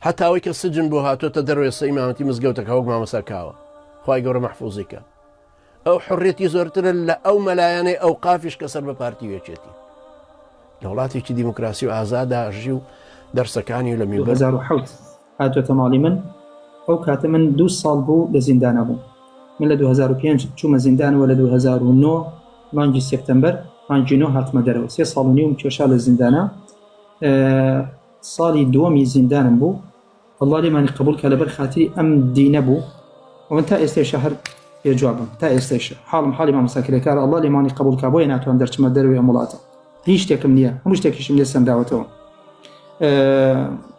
هەتا ئەوەی کە سجن بۆ هاتۆتە دەرەوە ئێستا ئیمامەتی مزگەوتەکا وەک مامۆستا کاوە خوای گەورە مەحفوزی کات ئەو حڕێتی زۆرترە لە ئەو مەلایەنەی ئەو قافیش کە سەر بە پارتی وێچێتی لە وڵاتێکی دیموکراسی و ئازادا ژی و دەرسەکانی لە میبەر هاتۆتە ماڵی من ئەو کاتە من دو ساڵ بوو لە زیندانە بوو من لە 2005 چوومە زیندانەوە لە 2009 مانگی سپتمبەر مانگینۆ هاتمە دەرەوە سێ ساڵ و نیوم کێشا لە زیندانە ساڵی دووەمی زیندانم بوو اللە لێمانی قبوڵ کا لەبەر خاتری ئەم دینە بوو ومن تا ئێستێشە هەر بێ جوابم تا ئێستێشە حاڵم حاڵی مامۆستا کرێکارە اللە لێمانی قبوڵ کا بۆیە ناتوان دەرچمە دەروی ئەم وڵاتە هیچ شتێکم نییە هەموو شتێکیشم لێ سەنداوەتەوە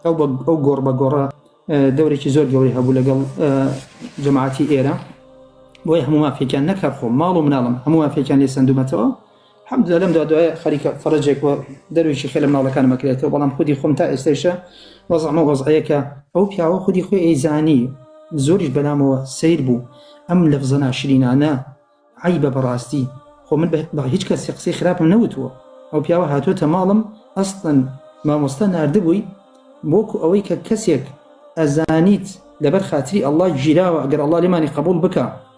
ئەو گۆڕ بە گۆڕە دەورێکی زۆر گەوری هەبوو لەگەڵ جەماعتی ئێرە بۆی هەموو مافێکیان نەکە خۆ ماڵ و مناڵم هەموو مافێکیان لێ سندومەتەوە حەمدللە لەم دا دوایە خەریکە فەرەجێک بۆ دەرویشی خێلە مناڵەکانم ئەکرێتەوە بەڵام خودی خۆم تا ئێستەیشە وەزعم ئەو وەزعەیە کە ئەو پیاوە خودی خۆی ئەیزانی زۆریش بەلامەوە سەیر بوو ئەم لەفزە ناشرینانە عەیبە بەڕاستی خۆ من بە هیچ کەسێ قسەی خراپم نەوتووە ئەو پیاوە هاتووەتە ماڵم ئەسڵەن مامۆستا ناردبووی بۆکو ئەوەی کە کەسێک ئەزانیت لەبەر خاتری ئەڵڵا گیراوە ئەگەر ئەڵڵا لێمانی قەبووڵ بکا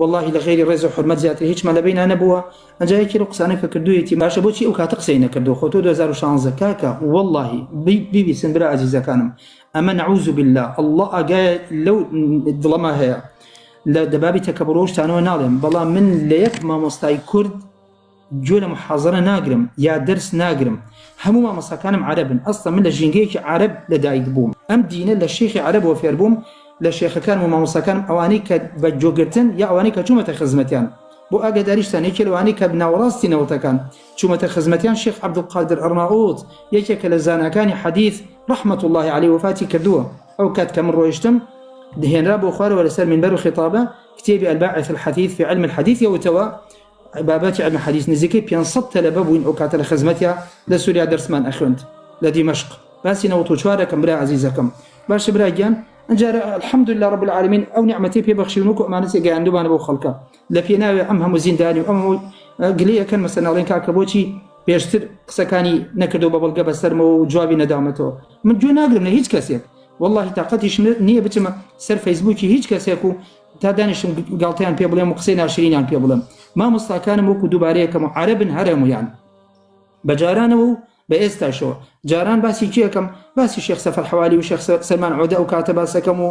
وەڵاهی لە غەیری ڕێزو حورمەت زیاتر هیچمان لە بەینا نەبووە ئەجا یەکێ لەو قسانە کە کردوویەتی باشە بۆچی ئەو کاتە قسەی نەکردووە خۆ تۆ دوو هەزار و شانزدە کاکە وەڵاهی بیت بیبیسن برا ئازیزەکانم ئەمە نەعوزو باللە اللە ئاگایە لەو دڵەما هەیە لە دەبابی تەکەبڕو ئەو شتانەوە ناڵێم بەڵام من لە یەک مامۆستای کورد گوێ لە محازەرە ناگرم یا دەرس ناگرم هەموو مامۆستاکانم عەرەبن ئەسڵەن من لە ژینگەیەکی عەرەب لە دایک بووم ئەم دینە لە شێخی عەرەبەوە فێربووم لە شێخەکانم و مامۆستاکانم ئەوانەی کە بە گوێگرتن یا ئەوانەی کە چوومەتە خزمەتیان بۆ ئاگاداریشتان یەکێ لەوانەی کە ناوەڕاستی نەوەتەکان چوومەتە خزمەتیان شێخ عەبدولقادر ئەڕناووت یەکێکە لە زاناکانی حەدیث ڕەحمەت اللە عەلەی وەفاتی کردووە ئەو کات کە من ڕۆیشتم دهێنرا بۆ خوارەوە لەسەر منبەر و خیتابە کتێبی الباعث الحثیث فی علم الحدیث یەوتەوە بابەتی علم حدیث نزیکەی پێنج سەد تەلەبە بووین ئەو کاتە لە خزمەتیا لە سوریا دەرسمان ئەخوێند لە دیمەشق باسی نەوەد و چوار ئەکەم برا عەزیزەکەم باشە برا گیان ئەجارە الحمد لله رب العالمین ئەو نیعمەتی پێ بەخشیون وەکو ئەمانەتی گەیاندومانە بۆ خەڵکە لە پێناوێ ئەم هەموو زیندانی و ئەم گلەی ئەکەن مەسەن ئەڵێن کاکە بۆچی پێشتر قسەکانی نەکردو بە بەڵگە بەسەرمەوە و جوابی نەدامەتەوە من گوێ ناگرم لە هیچ کەسێک واللهی تااقەتیش نییە بچمە سەر فەیسبووکی هیچ کەسێک و تا دانیشتم گاڵتەیان پێ بڵێم و قسەی ناشرینیان پێ بڵێم مامۆستاکانم وەکو دووبارەیەکەم و عەرەبن هەرەمویان بە جارانەوە و بە ئێستاشەوە جاران باسی کێکم باسی شێخ سەفەر حوالی و شێخ سەلمان عۆدە ئەو کاتە باسەکەم و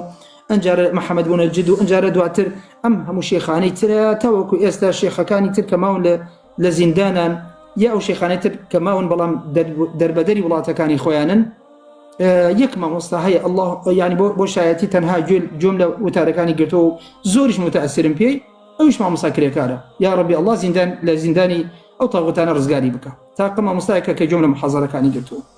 ئەنجارە محەممەد بوونە جد و ئەنجارە دواتر ئەم هەموو شێخانەی ترە تاوەکو ئێستا شێخەکانی تر کە ماون لە لە زیندانان یا ئەو شێخانەی تر کە ماون بەڵام دەربەدەری وڵاتەکانی خۆیانن یەک مامۆستا هەیە ئەله ینی بۆ بۆ شایەتی تەنها گوێل جۆم لە وتارەکانی گرتەوە و زۆریش متەسرم پێی ئەوش مامۆستا کرێکارە یا ڕبی ئەله زیندان لە زیندانی ئەو تاغوتانە ڕزگاری بکە تاقە مامۆستایەکە کە گوێم لە محەزارەکانی گرتووە